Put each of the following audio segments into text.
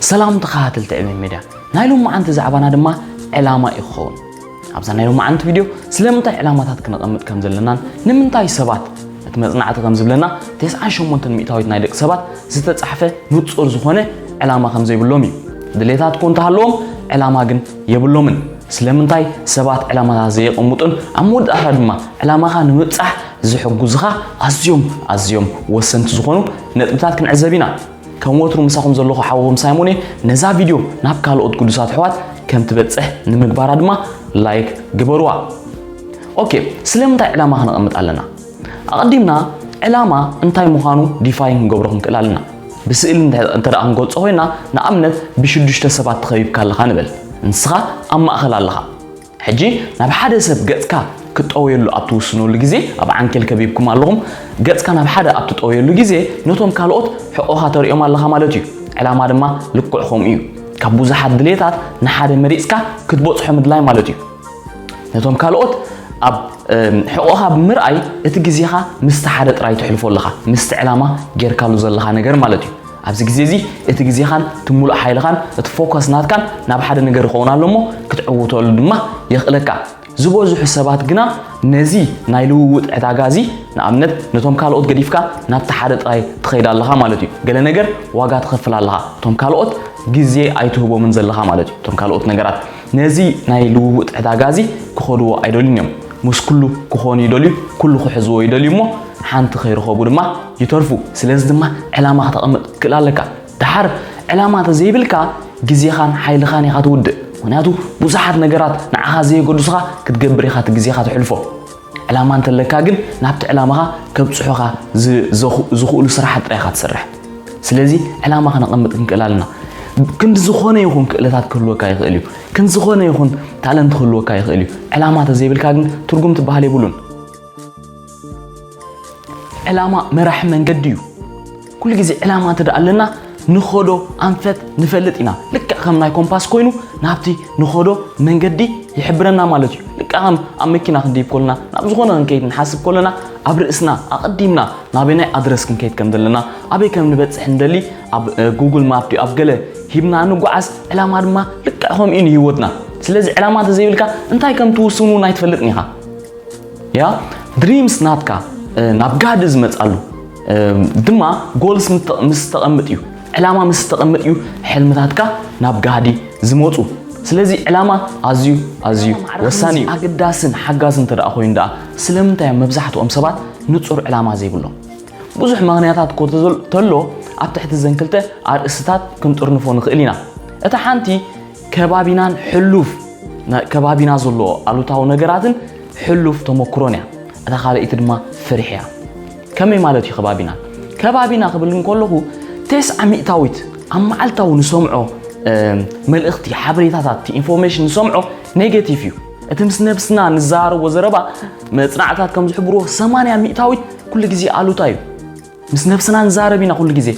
ሰላም ተኸታተልቲ ዕብየት ሚድያ፣ ናይ ሎማዓንቲ ዛዕባና ድማ ዕላማ እዩ ክኸውን። ኣብዛ ናይ ሎማዓንቲ ቪድዮ ስለምንታይ ዕላማታት ክነቐምጥ ከም ዘለናን ንምንታይ ሰባት እቲ መጽናዕቲ ከም ዝብለና ተስዓን ሸሞንተን ሚእታዊት ናይ ደቂ ሰባት ዝተጻሕፈ ንጹር ዝኾነ ዕላማ ከም ዘይብሎም እዩ። ድሌታት እኮ እንተሃለዎም ዕላማ ግን የብሎምን። ስለምንታይ ሰባት ዕላማታት ዘየቐምጡን ኣብ መወዳእታ ድማ ዕላማኻ ንምብጻሕ ዝሕግዙኻ ኣዝዮም ኣዝዮም ወሰንቲ ዝኾኑ ነጥብታት ክንዕዘብ ኢና። ከም ወትሩ ምሳኹም ዘለኹ ሓውኹም ሳይሞን እየ። ነዛ ቪድዮ ናብ ካልኦት ቅዱሳት ኣሕዋት ከም ትበጽሕ ንምግባራ ድማ ላይክ ግበሩዋ። ኦኬ፣ ስለምንታይ ዕላማ ክነቐምጥ ኣለና? ኣቐዲምና ዕላማ እንታይ ምዃኑ ዲፋይን ክንገብሮ ክንክእል ኣለና። ብስእሊ እንተ ደኣ ክንገልጾ ኮይና ንኣብነት ብሽዱሽተ ሰባት ተኸቢብካ ኣለኻ ንበል። ንስኻ ኣብ ማእከል ኣለኻ። ሕጂ ናብ ሓደ ሰብ ገጽካ ክትጠውየሉ ኣብ ትውስነሉ ግዜ፣ ኣብ ዓንኬል ከቢብኩም ኣለኹም፣ ገጽካ ናብ ሓደ ኣብ ትጠውየሉ ግዜ ነቶም ካልኦት ሕቖኻ ተርእዮም ኣለኻ ማለት እዩ። ዕላማ ድማ ልክዕ ከምኡ እዩ። ካብ ብዙሓት ድሌታት ንሓደ መሪጽካ ክትበጽሖ ምድላይ ማለት እዩ። ነቶም ካልኦት ኣብ ሕቖኻ ብምርኣይ እቲ ግዜኻ ምስቲ ሓደ ጥራይ ተሕልፎ ኣለኻ፣ ምስቲ ዕላማ ጌርካሉ ዘለኻ ነገር ማለት እዩ። ኣብዚ ግዜ እዚ እቲ ግዜኻን እቲ ምሉእ ሓይልኻን እቲ ፎከስ ናትካን ናብ ሓደ ነገር ይኸውን ኣሎ እሞ ክትዕውተሉ ድማ የኽእለካ። ዝበዝሑ ሰባት ግና ነዚ ናይ ልውውጥ ዕዳጋ እዚ ንኣብነት ነቶም ካልኦት ገዲፍካ ናብቲ ሓደ ጥራይ ትኸይድ ኣለኻ ማለት እዩ። ገለ ነገር ዋጋ ትኸፍል ኣለኻ። እቶም ካልኦት ግዜ ኣይትህቦምን ዘለኻ ማለት እዩ። እቶም ካልኦት ነገራት ነዚ ናይ ልውውጥ ዕዳጋዚ ክኸድዎ ኣይደልዩን እዮም። ምስ ኩሉ ክኾኑ ይደልዩ፣ ኩሉ ክሕዝዎ ይደልዩ እሞ ሓንቲ ከይረኸቡ ድማ ይተርፉ። ስለዚ ድማ ዕላማ ክተቐምጥ ክትክእል ኣለካ። ደሓር ዕላማ እንተዘይብልካ ግዜኻን ሓይልኻን ኢኻ ትውድእ። ምኽንያቱ ብዙሓት ነገራት ንዓኻ ዘየገድሱኻ ክትገብር ኢኻ እቲ ግዜኻ ተሕልፎ። ዕላማ እንተለካ ግን ናብቲ ዕላማኻ ከብፅሑኻ ዝኽእሉ ስራሓት ጥራይ ኢኻ ትሰርሕ። ስለዚ ዕላማ ከነቐምጥ ክንክእል ኣለና። ክንዲ ዝኾነ ይኹን ክእለታት ክህልወካ ይኽእል እዩ። ክንዲ ዝኾነ ይኹን ታለንት ክህልወካ ይኽእል እዩ። ዕላማ ተዘይብልካ ግን ትርጉም ትበሃል የብሉን። ዕላማ መራሒ መንገዲ እዩ። ኩሉ ግዜ ዕላማ እንተ ኣለና ንኸዶ ኣንፈት ንፈልጥ ኢና። ልክዕ ከም ናይ ኮምፓስ ኮይኑ ናብቲ ንኸዶ መንገዲ ይሕብረና ማለት እዩ። ልክዕ ከም ኣብ መኪና ክንድይብ ኮለና ናብ ዝኾነ ክንከይድ ንሓስብ ኮለና ኣብ ርእስና ኣቐዲምና ናበናይ ኣድረስ ክንከይድ ከም ዘለና ኣበይ ከም ንበጽሕ ንደሊ ኣብ ጉግል ማፕ ድዩ ኣብ ገለ ሂብና ንጓዓዝ ዕላማ ድማ ልክዕ ከምኡ ንህይወትና ስለዚ ዕላማ እንተዘይብልካ እንታይ ከም ትውስን እውን ኣይትፈልጥን ኢኻ ያ ድሪምስ ናትካ ናብ ጋህዲ ዝመጻሉ ድማ ጎልስ ምስ ተቐምጥ እዩ ዕላማ ምስ ተቐምጥ እዩ ሕልምታትካ ናብ ጋህዲ ዝመፁ ስለዚ ዕላማ ኣዝዩ ኣዝዩ ወሳኒ እዩ ኣገዳስን ሓጋዝ እንተ ደኣ ኮይኑ ደኣ ስለምንታይ እዮም መብዛሕትኦም ሰባት ንፁር ዕላማ ዘይብሎም ብዙሕ ምክንያታት ኮ ተሎ ኣብ ትሕቲ ዘን ክልተ ኣርእስትታት ክንጥርንፎ ንኽእል ኢና እታ ሓንቲ ከባቢናን ሕሉፍ ከባቢና ዘለዎ ኣሉታዊ ነገራትን ሕሉፍ ተመክሮን እያ እታ ካልኣይቲ ድማ ፍርሒ እያ ከመይ ማለት እዩ ከባቢና? ከባቢና ክብል እንከለኹ ቴስዓ ሚእታዊት ኣብ መዓልታዊ ንሰምዖ መልእኽቲ፣ ሓበሬታታት፣ ኢንፎርሜሽን ንሰምዖ ኔጌቲቭ እዩ። እቲ ምስ ነብስና ንዘራረቦ ዘረባ መጽናዕትታት ከም ዝሕብርዎ ሰማንያ ሚእታዊት ኩሉ ግዜ ኣሉታ እዩ። ምስ ነብስና ንዛረብ ኢና ኩሉ ግዜ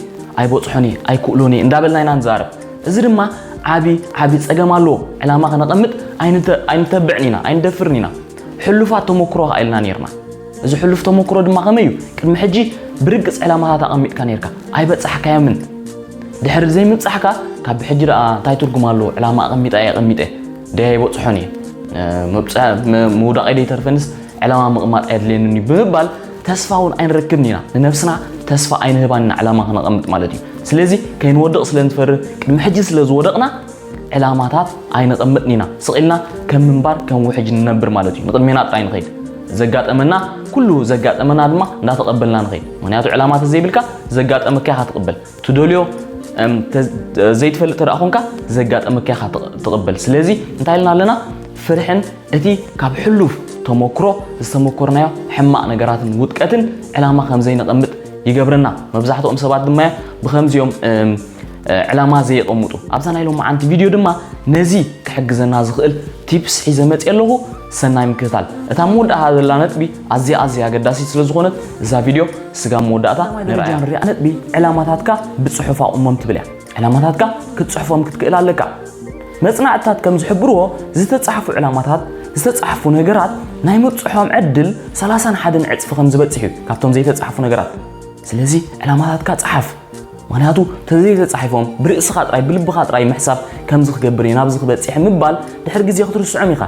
ኣይበጽሖን እየ ኣይክእሎን እየ እንዳበልና ኢና ንዛረብ። እዚ ድማ ዓቢ ዓቢ ጸገም ኣለዎ። ዕላማ ከነቐምጥ ኣይንተ ኣይንተብዕን ኢና ኣይንደፍርን ኢና። ሕሉፋት ተሞክሮ ከኣ ኢልና ኔርና። እዚ ሕሉፍ ተሞክሮ ድማ ከመይ እዩ? ቅድሚ ሕጂ ብርግጽ ዕላማታት ኣቐሚጥካ ኔርካ፣ ኣይበጻሕካዮምን። ድሕሪ ዘይምብጻሕካ ካብ ብሕጂ ደኣ እንታይ ትርጉም ኣለዎ፣ ዕላማ ኣቐሚጠ ኣየቐሚጠ ደይ ኣይበጽሖን እየ፣ ምውዳቐይ ደይተርፈንስ ዕላማ ምቕማጥ ኣየድልየንን እዩ ብምባል ተስፋ እውን ኣይንረክብን ኢና። ንነብስና ተስፋ ኣይንህባን ኢና ዕላማ ክነቐምጥ ማለት እዩ። ስለዚ ከይንወድቕ ስለ ንፈርህ ቅድሚ ሕጂ ስለ ዝወደቕና ዕላማታት ኣይነቐምጥን ኢና። ስቕ ኢልና ከም ምንባር ከም ውሕጅ ንነብር ማለት እዩ። ንቕድሜና ጥራይ ንኸይድ። ዘጋጠመና ኩሉ ዘጋጠመና ድማ እንዳተቐበልና ንኸይድ። ምኽንያቱ ዕላማ ተዘይብልካ ዘጋጠመካ ኢኻ ትቕበል። ትደልዮ ዘይትፈልጥ ተደኣ ኮንካ ዘጋጠመካ ኢኻ ትቕበል። ስለዚ እንታይ ኢልና ኣለና? ፍርሕን እቲ ካብ ሕሉፍ ተሞክሮ ዝተሞኮርናዮ ሕማቕ ነገራትን ውድቀትን ዕላማ ከም ዘይነቐምጥ ይገብረና። መብዛሕትኦም ሰባት ድማ እዮም ብኸምዚኦም ዕላማ ዘየቐምጡ። ኣብዛ ናይ ሎማዓንቲ ቪድዮ ድማ ነዚ ክሕግዘና ዝኽእል ቲፕስ ሒዘ መፅየ ኣለኹ። ሰናይ ምክትታል። እታ መወዳእታ ዘላ ነጥቢ ኣዝያ ኣዝያ ኣገዳሲት ስለ ዝኾነት እዛ ቪድዮ ስጋብ መወዳእታ ንርኣያ። ንሪኣ ነጥቢ ዕላማታትካ ብፅሑፍ ኣቑሞም ትብል እያ። ዕላማታትካ ክትፅሕፎም ክትክእል ኣለካ። መፅናዕትታት ከም ዝሕብርዎ ዝተፃሕፉ ዕላማታት ዝተፃሕፉ ነገራት ናይ ምብፅሖም ዕድል ሰላሳን ሓደን ዕፅፊ ከም ዝበፅሕ እዩ ካብቶም ዘይተፃሕፉ ነገራት። ስለዚ ዕላማታትካ ፀሓፍ። ምክንያቱ ተዘይ ተጻሒፎም ብርእስኻ ጥራይ ብልብኻ ጥራይ ምሕሳብ ከምዚ ክገብር እየ ናብዚ ክበጽሕ ምባል ድሕሪ ግዜ ክትርስዖም ኢኻ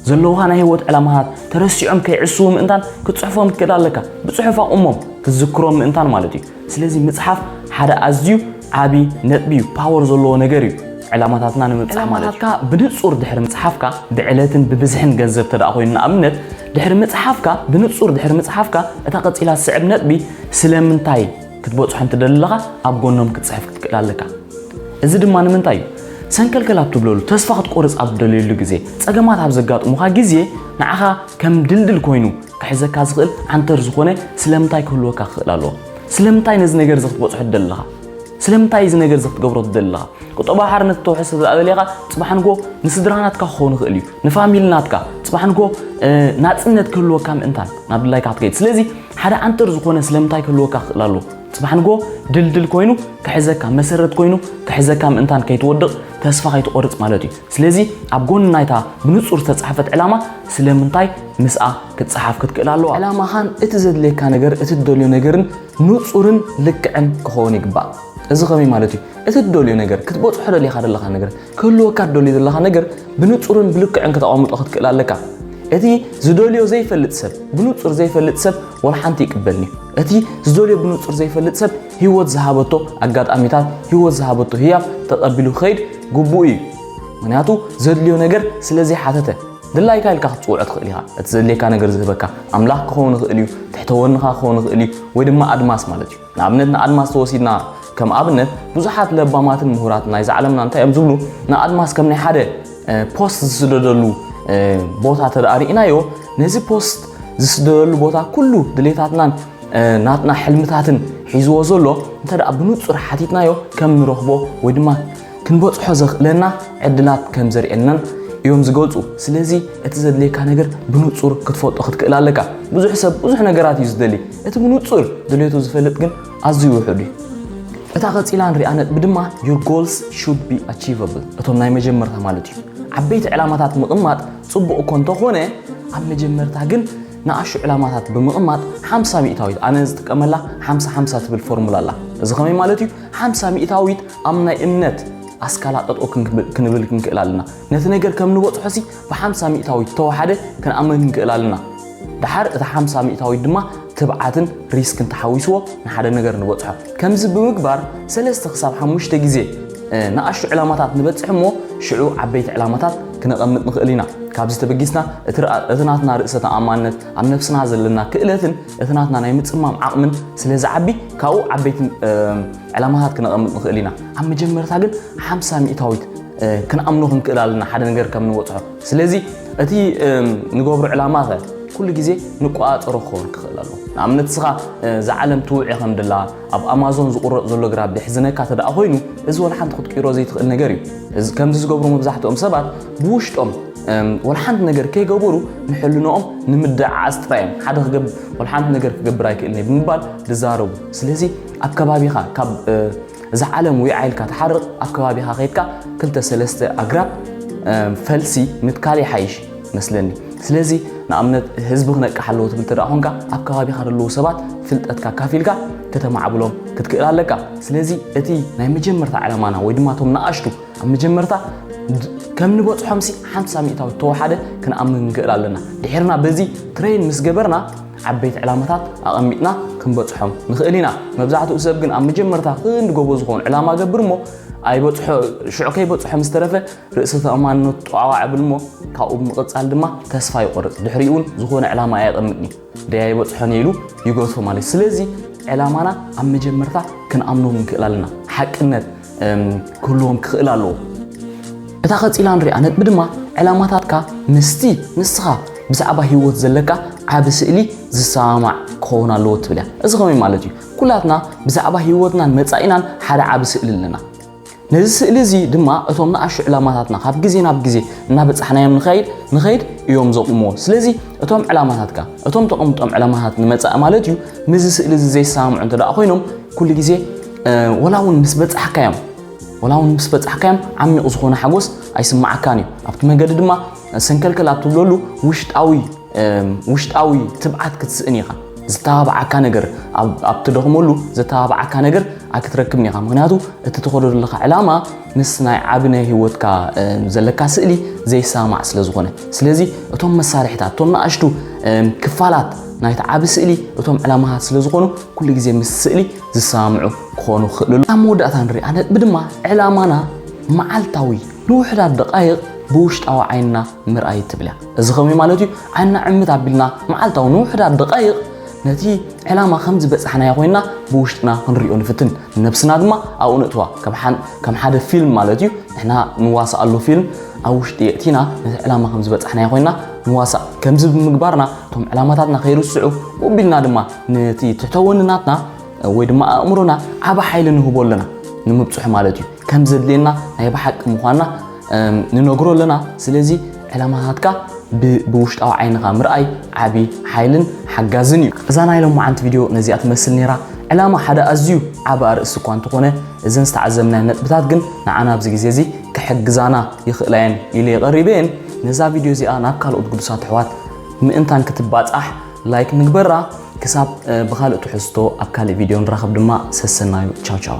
ዘለውኻ ናይ ህይወት ዕላማታት ተረሲዖም ከይዕስዉ ምእንታን ክትጽሕፎም ትክእል ኣለካ ብጽሑፍ ኣቑሞም ክትዝክሮም ምእንታን ማለት እዩ ስለዚ ምጽሓፍ ሓደ ኣዝዩ ዓቢ ነጥቢ እዩ ፓወር ዘለዎ ነገር እዩ ዕላማታትና ንምብጻሕ ማለት እዩ ብንጹር ድሕሪ ምጽሓፍካ ብዕለትን ብብዝሕን ገንዘብ ተደኣ ኮይኑ ንኣብነት ድሕሪ ምጽሓፍካ ብንጹር ድሕሪ ምጽሓፍካ እታ ቀጺላ ዝስዕብ ነጥቢ ስለምንታይ ክትበጽሖም ትደሊ ኣለኻ ኣብ ጎኖም ክትጽሕፍ ክትክእል ኣለካ እዚ ድማ ንምንታይ እዩ ሰንከልከል ኣብ ትብለሉ ተስፋ ክትቆርጽ ኣብ ትደልየሉ ግዜ ጸገማት ኣብ ዘጋጥሙኻ ግዜ ንዓኻ ከም ድልድል ኮይኑ ክሕዘካ ዝኽእል ዓንተር ዝኾነ ስለምንታይ ክህልወካ ክኽእል ኣለዎ ስለምንታይ ነዚ ነገር እዚ ክትበጽሖ ትደሊ ኣለኻ ስለምንታይ እዚ ነገር እዚ ክትገብሮ ትደሊ ኣለኻ ቁጠባዊ ሓርነት እተውሕስ ስለዝኣበለኻ ፅባሕ ንጎ ንስድራ ናትካ ክኸውን ይኽእል እዩ ንፋሚሊ ናትካ ፅባሕ ንጎ ናፅነት ክህልወካ ምእንታን ናብ ድላይካ ክትከይድ ስለዚ ሓደ ኣንጥር ዝኾነ ስለምንታይ ክህልወካ ክኽእል ኣለዎ። ጽባሕ ንግሆ ድልድል ኮይኑ ክሕዘካ፣ መሰረት ኮይኑ ክሕዘካ ምእንታን ከይትወድቕ ተስፋ ከይትቖርጽ ማለት እዩ። ስለዚ ኣብ ጎኒ ናይታ ብንጹር ዝተጻሕፈት ዕላማ ስለምንታይ ምስኣ ክትጸሓፍ ክትክእል ኣለዋ። ዕላማኻን እቲ ዘድልየካ ነገር እቲ ትደልዮ ነገርን ንጹርን ልክዕን ክኸውን ይግባእ። እዚ ከመይ ማለት እዩ? እቲ ትደልዮ ነገር፣ ክትበጽሖ ደሊኻ ዘለኻ ነገር፣ ክህልወካ እትደልዮ ዘለኻ ነገር ብንጹርን ብልክዕን ከተቐምጦ ክትክእል ኣለካ። እቲ ዝደልዮ ዘይፈልጥ ሰብ ብንጹር ዘይፈልጥ ሰብ ወላ ሓንቲ ይቅበልኒ እቲ ዝደልዮ ብንጹር ዘይፈልጥ ሰብ ህይወት ዝሃበቶ ኣጋጣሚታት ህይወት ዝሃበቶ ህያብ ተቐቢሉ ክኸይድ ግቡእ እዩ ምክንያቱ ዘድልዮ ነገር ስለ ዘይሓተተ ድላይካ ኢልካ ክትፅውዖ ትኽእል ኢኻ እቲ ዘድልየካ ነገር ዝህበካ ኣምላኽ ክኸውን ይኽእል እዩ ትሕተወንኻ ክኸውን ይኽእል እዩ ወይ ድማ ኣድማስ ማለት እዩ ንኣብነት ንኣድማስ ተወሲድና ከም ኣብነት ብዙሓት ለባማትን ምሁራት ናይዛ ዓለምና እንታይ እዮም ዝብሉ ንኣድማስ ከም ናይ ሓደ ፖስት ዝስደደሉ ቦታ ተደኣ ርኢናዮ ነዚ ፖስት ዝስደደሉ ቦታ ኩሉ ድሌታትናን ናትና ሕልምታትን ሒዝዎ ዘሎ እንተ ብንጹር ሓቲትናዮ ከም ንረኽቦ ወይ ድማ ክንበጽሖ ዘኽእለና ዕድላት ከም ዘርእየናን እዮም ዝገልጹ። ስለዚ እቲ ዘድልየካ ነገር ብንጹር ክትፈልጦ ክትክእል ኣለካ። ብዙሕ ሰብ ብዙሕ ነገራት እዩ ዝደሊ፣ እቲ ብንጹር ድሌቱ ዝፈልጥ ግን ኣዝዩ ውሑድ እዩ። እታ ቀጺላ ንሪኣ ነጥቢ ድማ your goals should be achievable እቶም ናይ መጀመርታ ማለት እዩ። ዓበይቲ ዕላማታት ምቕማጥ ጽቡቕ እኮ እንተኾነ ኣብ መጀመርታ ግን ንኣሹ ዕላማታት ብምቕማጥ ሓምሳ ሚእታዊት ኣነ ዝጥቀመላ ሓምሳ ሓምሳ ትብል ፎርሙላ ኣላ። እዚ ከመይ ማለት እዩ? ሓምሳ ሚእታዊት ኣብ ናይ እምነት ኣስካላ ጠጠው ክንብል ክንክእል ኣለና። ነቲ ነገር ከም ንበጽሖሲ ብሓምሳ ሚእታዊት ዝተዋሓደ ክንኣምን ክንክእል ኣለና። ድሓር እቲ ሓምሳ ሚእታዊት ድማ ትብዓትን ሪስክን ተሓዊስዎ ንሓደ ነገር ንበጽሖ። ከምዚ ብምግባር ሰለስተ ክሳብ ሓሙሽተ ግዜ ንኣሽቱ ዕላማታት ንበጽሕ እሞ ሽዑ ዓበይቲ ዕላማታት ክነቐምጥ ንኽእል ኢና። ካብዚ ተበጊስና እቲ ናትና ርእሰ ተኣማንነት፣ ኣብ ነብስና ዘለና ክእለትን እቲ ናትና ናይ ምጽማም ዓቕምን ስለዝዓቢ ካብኡ ዓበይቲ ዕላማታት ክነቐምጥ ንኽእል ኢና። ኣብ መጀመርታ ግን ሓምሳ ሚእታዊት ክንኣምኖ ክንክእል ኣለና ሓደ ነገር ከም ንበፅሖ። ስለዚ እቲ ንገብሮ ዕላማታት ኩሉ ግዜ ንቆፃፀሮ ክኸውን ክኽእል ኣለዎ። ንኣብነት እስኻ እዛ ዓለም ትውዒ ከም ድላ ኣብ ኣማዞን ዝቑረፅ ዘሎ ግራብ ደሕዝነካ ተደኣ ኮይኑ እዚ ወላ ሓንቲ ክትቅይሮ ዘይትኽእል ነገር እዩ። ከምዚ ዝገብሩ መብዛሕትኦም ሰባት ብውሽጦም ወላ ሓንቲ ነገር ከይገበሩ ንሕልንኦም ንምድዓዓስ ጥራይ እዮም። ሓደ ክገብ ወላ ሓንቲ ነገር ክገብር ኣይክእልን እየ ብምባል ዝዛረቡ። ስለዚ ኣብ ከባቢኻ ካብ እዛ ዓለም ዊዓ ኢልካ ትሓርቕ ኣብ ከባቢኻ ከይድካ ክልተ ሰለስተ ኣግራብ ፈልሲ ምትካል ይሓይሽ መስለኒ ስለዚ ንኣብነት ህዝቢ ክነቅሕ ኣለዎ ትብል ተደኣ ኮንካ ኣብ ከባቢኻ ዘለዉ ሰባት ፍልጠትካ ካፊልካ ከተማዕብሎም ክትክእል ኣለካ ስለዚ እቲ ናይ መጀመርታ ዕላማና ወይ ድማ እቶም ንኣሽቱ ኣብ መጀመርታ ከም ንበፅሖምሲ ሓምሳ ሚእታዊ ተወሓደ ክንኣምን ንክእል ኣለና ድሒርና በዚ ትሬን ምስ ገበርና ዓበይቲ ዕላማታት ኣቐሚጥና ክንበጽሖም ንኽእል ኢና። መብዛሕትኡ ሰብ ግን ኣብ መጀመርታ ክንዲ ጎቦ ዝኾን ዕላማ ገብር እሞ ኣይበጽሖ ሽዑ ከይበጽሖ ምስ ተረፈ ርእሰ ተኣማንነቱ ጧዕዋዕ እብል እሞ ካብኡ ብምቕጻል ድማ ተስፋ ይቖርጽ ድሕሪኡ እውን ዝኾነ ዕላማ ኣየቐምጥን እዩ ደይ ኣይበጽሖን እየ ኢሉ ይገትፎ ማለት እዩ። ስለዚ ዕላማና ኣብ መጀመርታ ክንኣምኖ ንክእል ኣለና። ሓቅነት ክህልዎም ክኽእል ኣለዎ። እታ ቀጺላ ንሪኣ ነጥቢ ድማ ዕላማታትካ ምስቲ ንስኻ ብዛዕባ ህይወት ዘለካ ዓቢ ስእሊ ዝሰማማዕ ክኸውን ኣለዎ ትብል እያ። እዚ ከመይ ማለት እዩ? ኩላትና ብዛዕባ ህይወትናን መጻኢናን ሓደ ዓቢ ስእሊ ኣለና። ነዚ ስእሊ እዚ ድማ እቶም ንኣሹ ዕላማታትና ካብ ግዜ ናብ ግዜ እናበጻሕናዮም ንኸይድ ንኸይድ እዮም ዘቑምዎ። ስለዚ እቶም ዕላማታትካ እቶም ተቐምጦም ዕላማታት ንመጻኢ ማለት እዩ ምስዚ ስእሊ እዚ ዘይሰማምዑ እንተደኣ ኮይኖም ኩሉ ግዜ ወላ እውን ምስ በጻሕካዮም ወላ እውን ምስ በጻሕካዮም ዓሚቕ ዝኾነ ሓጎስ ኣይስማዓካን እዩ ኣብቲ መገዲ ድማ ሰንከልከል ኣብ ትብለሉ ውሽጣዊ ውሽጣዊ ትብዓት ክትስእን ኢኻ ዝተባብዓካ ነገር ኣብ ትደኽመሉ ዘተባብዓካ ነገር ኣይክትረክብን ኢኻ ምክንያቱ እቲ ትኸዶ ዘለካ ዕላማ ምስ ናይ ዓቢ ናይ ህይወትካ ዘለካ ስእሊ ዘይሰማማዕ ስለ ዝኾነ ስለዚ እቶም መሳርሕታት እቶም ንኣሽቱ ክፋላት ናይቲ ዓቢ ስእሊ እቶም ዕላማታት ስለ ዝኾኑ ኩሉ ግዜ ምስ ስእሊ ዝሰማምዑ ክኾኑ ክኽእልሉ ኣብ መወዳእታ ንርኢ። ኣብ ነጥቢ ድማ ዕላማና መዓልታዊ ንውሑዳት ደቓይቕ ብውሽጣዊ ዓይንና ምርኣይ ትብል እያ። እዚ ከምይ ማለት እዩ ዓይንና ዕምት ኣቢልና መዓልታዊ ንውሑዳት ደቓይቕ ነቲ ዕላማ ከም ዝበጻሕናዮ ኮይና ብውሽጥና ክንሪኦ ንፍትን ነብስና ድማ ኣብኡ ነእትዋ ከም ሓደ ፊልም ማለት እዩ ንሕና ንዋሳኣሉ ፊልም ኣብ ውሽጢ የእቲና ነቲ ዕላማ ከም ዝበጻሕናዮ ኮይና ንዋሳእ ከምዚ ብምግባርና እቶም ዕላማታትና ከይርስዑ ኡቢልና ድማ ነቲ ትሕተ ወንናትና ወይ ድማ ኣእምሮና ዓብ ሓይሊ ንህቦ ኣለና ንምብፅሑ ማለት እዩ ከም ዘድልየና ናይ ብሓቂ ምዃንና ንነግሮ ኣለና ስለዚ ዕላማታትካ ብውሽጣዊ ዓይንኻ ምርኣይ ዓብ ሓይልን ሓጋዝን እዩ እዛ ናይ ሎማዓንቲ ቪድዮ ነዚኣ ትመስል ነራ ዕላማ ሓደ ኣዝዩ ዓብ ኣርእሲ እኳ እንተኾነ እዘን ዝተዓዘብናዮ ነጥብታት ግን ንዓና ኣብዚ ግዜ እዚ ክሕግዛና ይኽእላ እየን ኢለ የቐሪበ እየን ነዛ ቪድዮ እዚኣ ናብ ካልኦት ግዱሳት ኣሕዋት ምእንታን ክትባፃሕ ላይክ ንግበራ ክሳብ ብካልእ ትሕዝቶ ኣብ ካልእ ቪድዮ ንራኸብ ድማ ሰሰናዩ ቻው ቻው